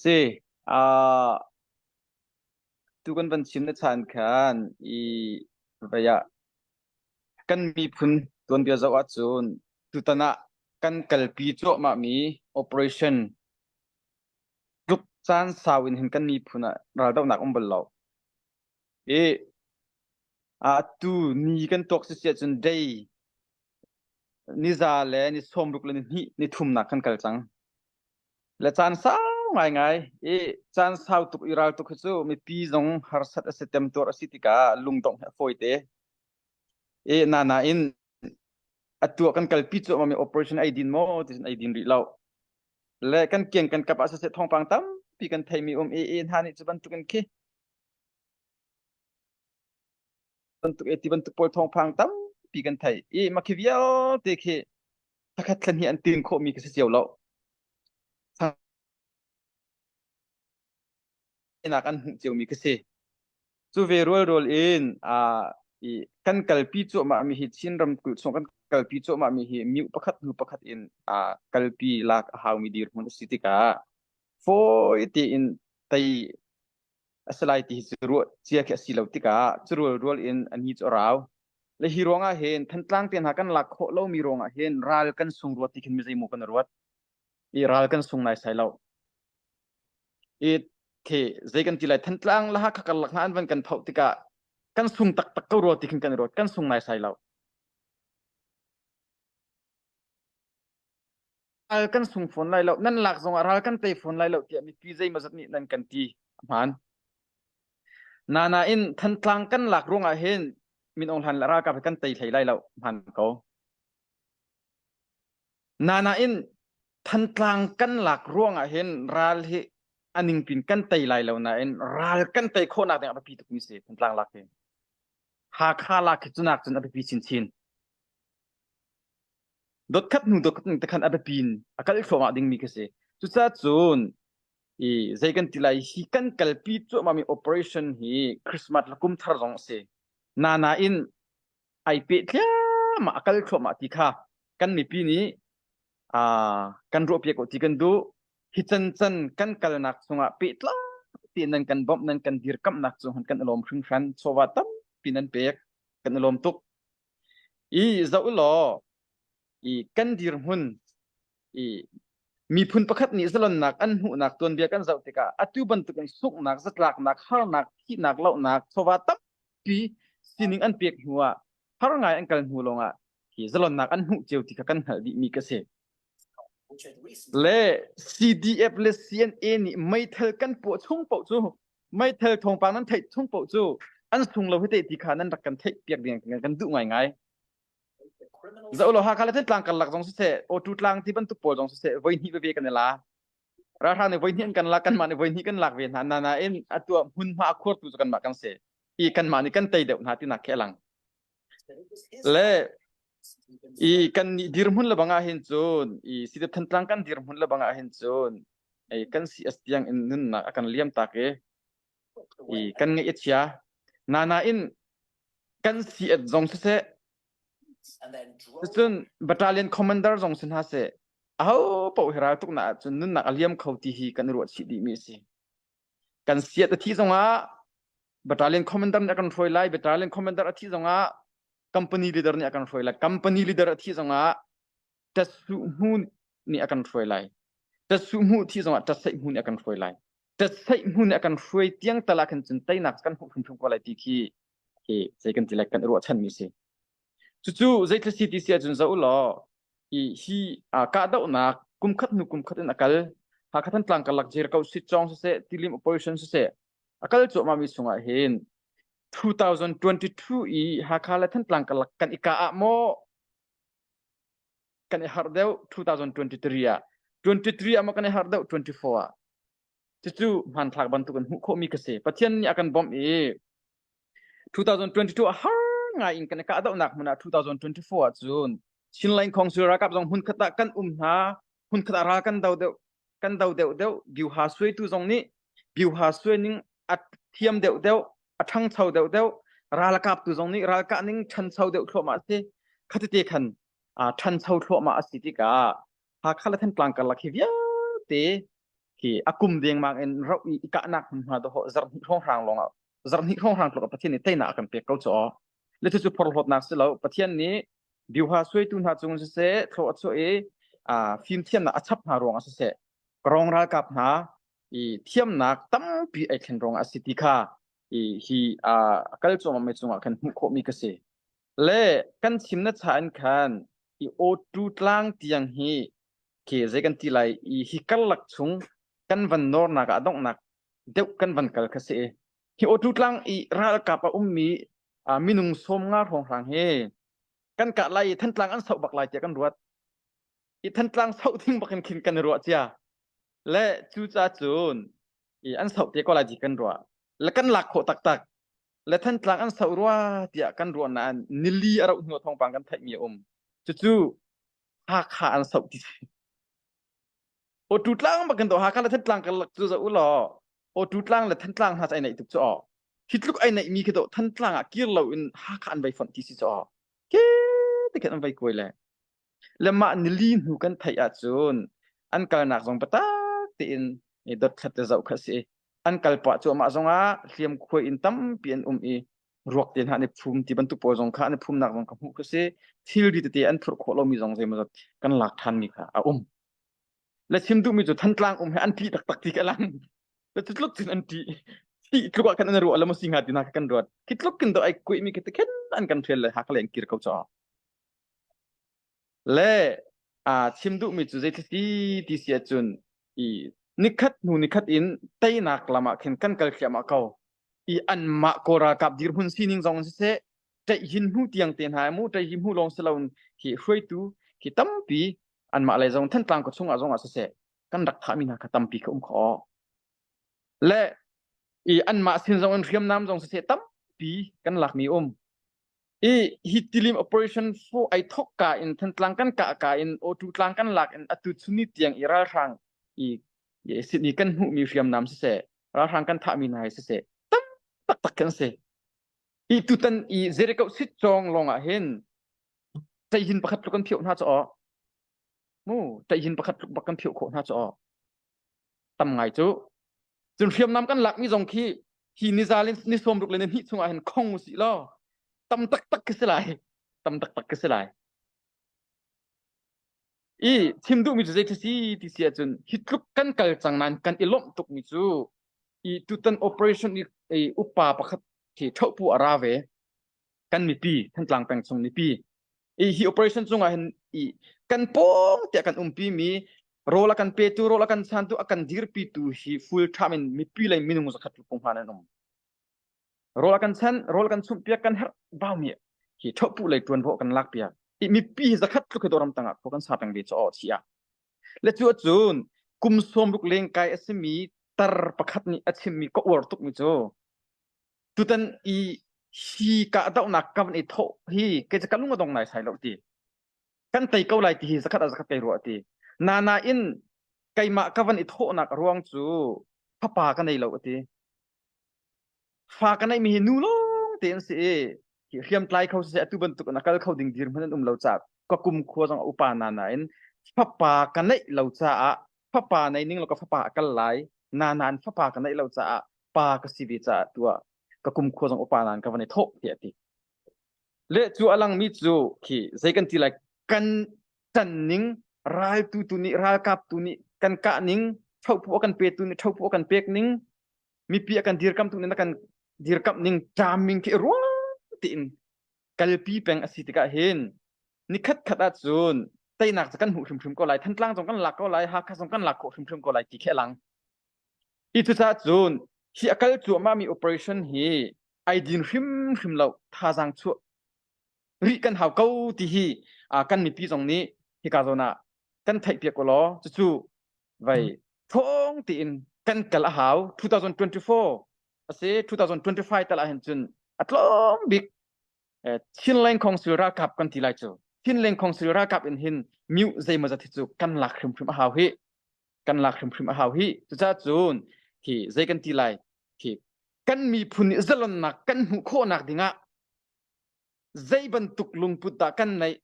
Si, ah tu kan van chim na chan khan i vai ah kan miphun tuanbia zoh ahcun tutan ah kan kalpi cuahmahmi operation tluk caan sau in hin kan miphun ah raldohnak um bal lo. I ah tu ni kan tuak sisi ahcun day ni za le ni sawmruk le ni hnih ni thumnak kan kal cang. Le caan sau ngaingai i caan sau tuk i ral tuk hi cu mipi zong harsat a si temtuar a si tikah lungdongh hi a fawite. E na nain atu kan kalpi cuahmah mi operation ai din maw tisin ai din rih lo. Le kan kieng kan kap ah siseh thongpang tampi kan theimi um i i hna nih cu bantukin khi bantuk eti bantuk pawl thawngphang tampi kan thei i makhi vialte khi thakhat thlan hi an tin khawhmi ka si cio lo nak an hmuh ciomi ka si cu ve rual rual in a i kan kalpi cuahmah mi hi Chin ram kul chung kan kalpi cuahmah mi hi miu pakhat hnu pakhat in a kalpi lak a hau mi dir hmun a si tikah fawi tein tei a si lai ti hi cu ruah cia khi a si lo tikah cu rual rual in a ni cu a rau le hi ruangah hin thantlang te hna kan lak khawh lomi ruangah hin ral kan sung ruat ti khin mizeimaw kan ruat i ral kan sung nai sai lo i the zei kan ti lai thantlang la kha kar lak na an van kan thau tikah kan sung taktak ko ruat ti khin kan ruat kan sung nai sai lo al kan sung fawn lai lo nan lak zongah ral kan tei fawn lai lo tiah mipi zeimawzat nih nan kan ti hmaan nana in thantlang kan lak ruangah hin min ong hlan la ralkap he kan tei hlei lai lo hmaan ko nana in thantlang kan lak ruangah hin ral hi aning pin kan tei lai lo nain ral kan tei khawhnak ding api tukmi si thantlang lak hi Hakha lak khi cunak cun api chin chin Dotkhat hnu dotkhat te khan a biapi in a kal thluahmah dingmi ka si. Cucacun i zei kan ti lai hi kan kalpi cuahmahmi operation hi Christmas le kum thar zong a si. Nain ai pehtliahmah a kal thluahmah ti kha kan mipi nih uh, kan ruahpiak ko ti kan duh. Hi can can kan kalnak chungah pehtlaak ti nan kan bawmh nan kan dirkamhnak cung han kan alawm hringhran chawva tampi nan pek kan alawm tuk. i zoh law i kan dirhmun i miphun pakhat nih zalonnak an hmuhnak tuanbia kan zoh tikah atu bantukin sunghnak zatlaknak harnak thihnak lohnak chawva tampi sining an pek hnu ah har ngai an kal hnu lawngah hi zalonnak an hmuh cio ti kha kan hngalh dihmi ka si Le CDF le CNA nih meithal kan puah chung paoh cu meithal thawngpang nan theih chung paoh cu an sung lo hite ti kha nan rak kan theih piak ding kan duh ngaingai. Za ulo Hakha le Thantlang karlak zong siseh, Awtu tlang ti bantuk pawl zong siseh, voi hnih veve kan i la. Ralhra nih voi hnih an kan la, kanmah nih voi hnih kan lak ve hna. Nain atuah hmunhma a khurtu cu kanmah kan si. I kanmah nih kan tei deuh hna tinak khi a lang. le i kan nih dirhmun le bangah hin cun i sidep thantlang kan dirhmun le bangah hin cun i kan si as tiang in nunnak a kan liam tak i i kan ngeih a chia na nain kan si at zong siseh cun battalion commander zong sin ha se aho po hira tuk na ahcun nunnak a liam kho ti hi kan i ruah chih dih mi a si kan siat a thi zongah battalion commander nih a kan hruai lai battalion commander a thi zongah company leader nih a kan hruai lai company leader a thi zongah tatsu hmu nih a kan hruai lai tatsu hmu thi zongah tatsaih hmu nih a kan hruai lai tatsaih hmu nih a kan hruai tiang tala khan cun teinak kan hmuh hrimhrim ko lai ti khi hi zei kan ti like kan ruahchan mi si cucu zeitle si ti si ahcun zo law i hi kahdohnak kumkhat hnu kumkhat in akal hakhat an tlang kalak jir ko si chong se tilim operation se akal chu ma mi sungah hin 2022 i hakha le than tlang kalak kan ika a mo kan i har deu 2023 a 23 a mo kan i har deu 24 a Cucu hmanthlak bantuk an hmuh khawhmi ka si. Pathian nih a kan bawmh i 2022 ah har ngai in kan i kahdohnak hmun ah 2024 ah cun Chinland Council ralkap zong hmunkhat ah kan um hna. Hmunkhat ah ral kan do deuh kan do deuh deuh Gyu-ha suaitu zong nih Gyu-ha suaining a thiam deuh deuh a ṭhangcho deuh deuh ralkap tu zong nih ralkah ning ṭhancho deuh thluahmah a si. Khatite khan ṭhancho thluahmah a si tikah Hakha le Thantlang karlak hi vialte hi a kum dengmang in rauh i kahnak hmunhma dawh zarhni hrawnghrang lawngah zarhni hrawnghrang tluk Pathian nih teinak a kan pek ko cu le tu cu phorhlawtnak si lo Pathian nih biuha suaitu hna cung siseh thlo a chuah i fimthiamnak a chap hna ruangah siseh krong ralkap hna i thiamnak tampi ai thlen ruangah a si ti kha i hi kal cuahmah mai cungah kan hmuh khawhmi ka si Le kan chim na cha in khan i awṭu tlang tiang hi ke zei kan ti lai i hi karlak chung kan van nornak ah donghnak deuh kan van kal kha si. Hi awṭu tlang i ralkap a ummi uh, minung sawm nga hrawnghrang hi kan kah lai i Thantlang an sauh bak lai tiah kan ruat. I Thantlang sauh ding bakin khin kan i ruah cia. Le cu ca cun i an sauh te ko lai ti kan ruah. Le kan lak khawh taktak. le Thantlang an soh rua tiah kan ruah nain nili a rauh hnu thawngpang kan theihmi a um. Cucu Hakha an soh ti si. O tu tlang bakin to Hakha le Thantlang ka cu za u law o tu tlang le Thantlang hna ai nei tuk cu o. Hi tluk ai nei mi khi to Thantlang ah kir lo in Hakha an vai fonh ti si cu o. Ke te kan an vai kuai le. le mah nili hnu kan theih ahcun an kalnak zong biatak tein dothlat te zoh kha si an kal pah cu amah zongah hliam khuai in tampi an um i ruak te hna ne phum ti bantuk pawl zong kha ne phumnak zong ka hmuh kha si thilri tete an phurh khawh lomi zong zeimawzat kan lak ṭhan mi kha a um le chim duhmi cu thantlang um he an ṭih taktak ti ka lang le cu tluk cin an ṭih ti tluk ah khan an ruah lama si hnga tina kan ruat ki tluk kin do ai kuih mi ke te khen an kan thel le hak leng kir ko chaw Le aa chim duhmi cu zeitluk ti ti si ahcun i nikhat hnu nikhat in teinak lam ah khin kan kal thliahmah ko i anmah kaw ralkap dirhmun sining zong siseh ṭaihhin hnu tiang te hna mu ṭaihhi hmu lawng si loin hi hruaitu hi tampi anmah lei zong Thantlang khaw chung ah zong ah siseh kan rak thahmi hna kha tampi ka um khawh le i anmah sin zong in hriamnam zong siseh tampi kan lakmi um i hi tilim operation fo ai thok ka in than tlang kan ka ka in o tu tlang kan lak in atu chuni tiang i ralhrang i ye sydney kan hmu mi hriam nam se ralhrang kan tha mi nai se se tam tak tak kan se i tutan i zerikau sit chong long ah hin sai hin pakhat lu kan phio hna cho mu tahin pakhat tluk bak kan philh khawh hna cu aw tam ngai cu cun hriamnam kan lak mi zong khi hi niza le ni sawm ruk le ni hnih chungah hin khong u si law tam taktak ka si lai tam taktak ka si lai i chim duh mi cu zei si ti si ahcun hi tluk kan kal cang nain kan i lomh tuk mi cu i tutan operation i, i upa pakhat khi thopu a ra ve kan mipi kan tlang peng chung mipi i hi operation cungah hin i kan pawng tiah kan umpi mi rawl a kan petu rawl a kan santu a kan dirpitu hi full time in mipi lei minung zakhat lu pung hlan an um rawl a kan chan rawl kan chumh piak kan herh bau mi hi thopu lei tuan ro kan lak piak i mipi hi zakhat tlu khi doram tangah ko kan sa tang ve cho chi a le chu cun kum som ruk leng kai asimi tar pakhat ni a chim mi ko war tuk mi chu tutan i hi kahdohnak kam an i thawh hi kei ca ka lung a dong lai sai lo ti kan tei ko lai ti hi zakhat a zakhat kei ruah ti na na in keimah ka van i thawhnak ruang cu fapa ka nei lo ti fa ka neihmi hi nu lawng te an si i hriamtlai kho siseh atu bantuk na kal kho ding dir hman an um lo ca ka kum khua zong upa na na in fapa ka neih lo caah fapa nei ning lo ka fapa kal lai na na in fapa ka neih lo caah pa ka si ve caah tua ka kum khua zong upa nan ka van i thok ti ati le chu alang mi chu khi zei kan ti lai kan tan ning ral tu tu ni ral kap tu ni kan ka ning thau pu kan pe tu ni thau pu kan pek ning mipi a kan dirkamh ning a kan dirkamh ning ṭaming khi ruang tein kalpi peng a si tikah hin nikhat khat ah cun teinak cu kan hmuh hrimhrim ko lai thantlang zong kan lak ko lai hakha zong kan lak khawh hrimhrim ko lai ti khi lang hi cucaah cun hi a kal cuahmahmi operation hi ai din hrimhrim lo thazaang chuah rih kan hau ko ti hi uh, kan mipi zong nih hika zawn ah kan theihpiak u law cucu vai thong tiin kan kal a hau 2024 ase 2025 tal ahhin cun atlawm bik Chinland Council rakap kan ti lai cu Chinland Council rakap in hin miu zeimazat hi cu kan lak hrimhrim a hau hi kan lak hrimhrim a hau hi cuca cun hi zei kan ti lai hi kan miphun i zalonnak kan hmuh khawhnak dingah zei bantuk lungput dah kan neih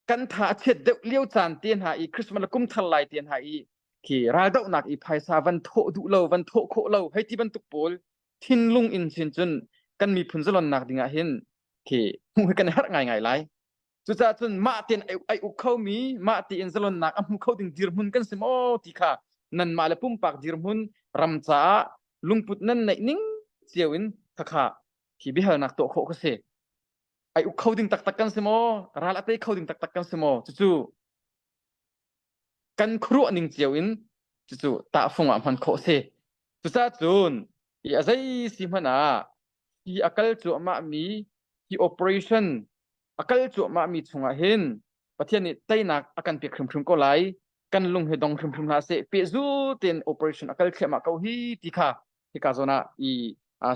kan tha a chiat deuh lio caan te hna i Christmas la kum thar lai te hna i khi raldohnak i phaisa van thawh duh lo van thawh khawh lo hei ti bantuk pawl thinlung in sin cun kan miphun zalonnak dingah hin khi hmuh hi kan har ngai ngai lai Cucaah cun mah tein ai uk kho mi mah tiin zalonnak a hmu kho ding dirhmun kan si maw ti kha nanmah le pumpak dirhmun ram caah lungput nan neih ning cio in khakha hi biahalnak tuah khawh ka si. Ai uk kho ding taktak kan si maw? Ral a tei kho ding taktak kan si maw? Cucu kan khuaruah ning cio in cucu tahfung ah hman khawh si. Cucacun i a zei si hmanh ah hi a kal cuahmah mi hi operation a kal cuahmah mi chungah hin Pathian nih teinak a kan pek hrimhrim ko lai kan lung hi dong hrimhrim hlah seh pehzul tein operation a kal thliahmah ko hi ti kha hika zawn ah i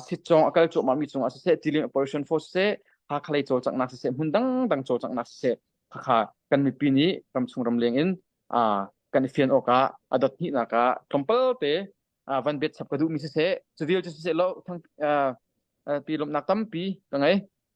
sitcong a kal cuahmahmi cungah siseh tilim operation force siseh Hakha lei cawlcanghnak siseh hmun dangdang cawlcanghnak siseh khakha kan mipi nih ramchung ramleng in kan i fian awk ah a dot hnihnak ah tlawmpal te van bet chap ka duhmi siseh civil cu siseh lo pi lomhnak tampi ka ngei